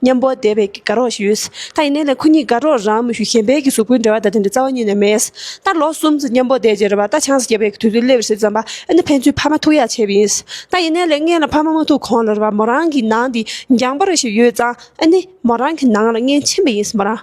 མཉམ་པོ་བདེ་བའི་དགའ་རོགས་ཞེས་ཡོད། ད་ཡིན་ནའི་ལན་ཁོ་གཉིས་དགའ་རོགས་རང་མི་ཞུ་གཞན་པའི་གིས་གཟུགས་པོའི་འབྲེལ་བ་ད་དེ་འདྲ་རྩ་བ་ཉིད་ནས་མེད། ད་ལོ་གསུམ་ཚོ་མཉམ་པོ་བདེ་རྗེས་རོལ་བ་ད་ཆང་ས་རྒྱས་པའི་དུས་ཚོད་སླེབས་ཟེར་བསམ་པ་ཨེ་ན་ཕན་ཚུན་ཕ་མ་ཐུག་ཡ་ཆེ་བས་ཡིན། ད་ཡིན་ནའི་ལན་ངེད་ལ་ཕ་མ་མ་ཐུག་གོང་ལ་རོལ་བ་མོ་རང་གི་ནང་དེ་འགྱངས་པ་རེ་ཞིག་ཡོད་ཙང་ཨེ་ནི། མོ་རང་གི་ནང་ལ་ངེད་མཆིན་པས་ཡིན་མོ་རང།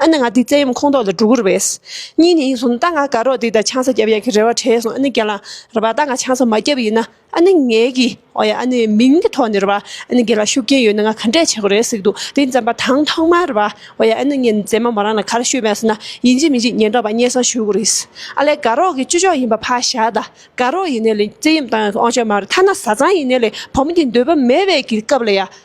ཨ་ནི་ང་འདི་བཙན་གཡེམ་ཁོངས་གཏོགས་ལ་འགྲོ་གི་རེད་བས། གཉིས་ནི་ཡིན་སོང་རྟ་རྔ་དགའ་རོགས་འདི་དང་ཆང་ས་བརྒྱབ་ཡག་གི་རེད་བ་དྲན་སོང་ཨ་ནི་རྒན་ལགས་རེད་བ་རྟ་རྔ་ཆང་ས་མ་བརྒྱབ་ཡིན་ན་ཨ་ནི་ངའི་གི་འོ་ཡ་ཨ་ནི་མིང་གི་ཐོག་ནས་རེད་བ་ཨ་ནི་རྒན་ལགས་ཤུགས་རྐྱེན་ཡོད་ན་ང་ག་འདྲས་བྱེད་དགོས་རེད་ཟིག་འདུག་དེ་མཛད་པ་དང་ཐོག་མར་རེད་བ་འོ་ཡ་ཨ་ནི་ངས་མཛད་མ་མོ་རང་ལ་ག་རེ་ཤོད་བས་ཟེར་ན་ཡིན་གཅིག་མིན་གཅིག་ཉན་རོགས་བ་སྙན་གསང་ཞུ་གི་རེད་ཨ་ལས་དགའ་རོགས་གི་བཅུ་ཕྱོགས་ཡིན་པ་ཕ་ཞག་དགའ་རོགས་ཡིན་ནས་ལས་བཙན་གཡེམ་བཏང་ཡག་གི་ཨོང་ཆ་མ་རེད་ཐ་ན་བཟའ་ཚང་ཡིན་ནས་ལས་བུ་མོ་འདི་འདོད་པ་མེད་བས་གི་སྐབས་ལ་ཡ།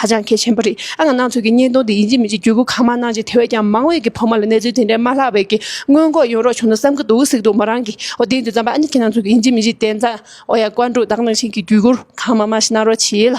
ཧ་ཅང་གལ་ཆེན་པོ་རེད་ཨ། ང་ནང་ཆོས་ཀྱི་བརྙན་ཐུང་དེ་ཡིན་གྱི་མིན་གྱི་བརྒྱུད་སྐུར་གང་མང་གནང་རྗེས་དེ་བས་ཀྱང་མང་བས་ཀྱི་ཕོ་མོ་ལ་གནས་ཚུལ་དེ་འདྲའི་མ་ལྷག་བས་ཀྱི་སྔོན་འགོག་ཡོང་རོགས་བྱུང་ན་བསམ་གྱི་འདུག་གཟིགས་འདུག་མོ་རང་གིས་འོ་དེའི་དུས་རྩམ་པ་ཨ་ནི་ཁྱེད་ནང་ཆོས་ཀྱི་ཡིན་གྱི་མིན་གྱི་དེ་ཙམ་འོ་ཡ་བཀའ་འགྲོ་བདག་ནང་བཞིན་གྱི་བརྒྱུད་སྐུར་གང་མང་མང་ཞིག་གནང་རོགས་བྱས་ལ།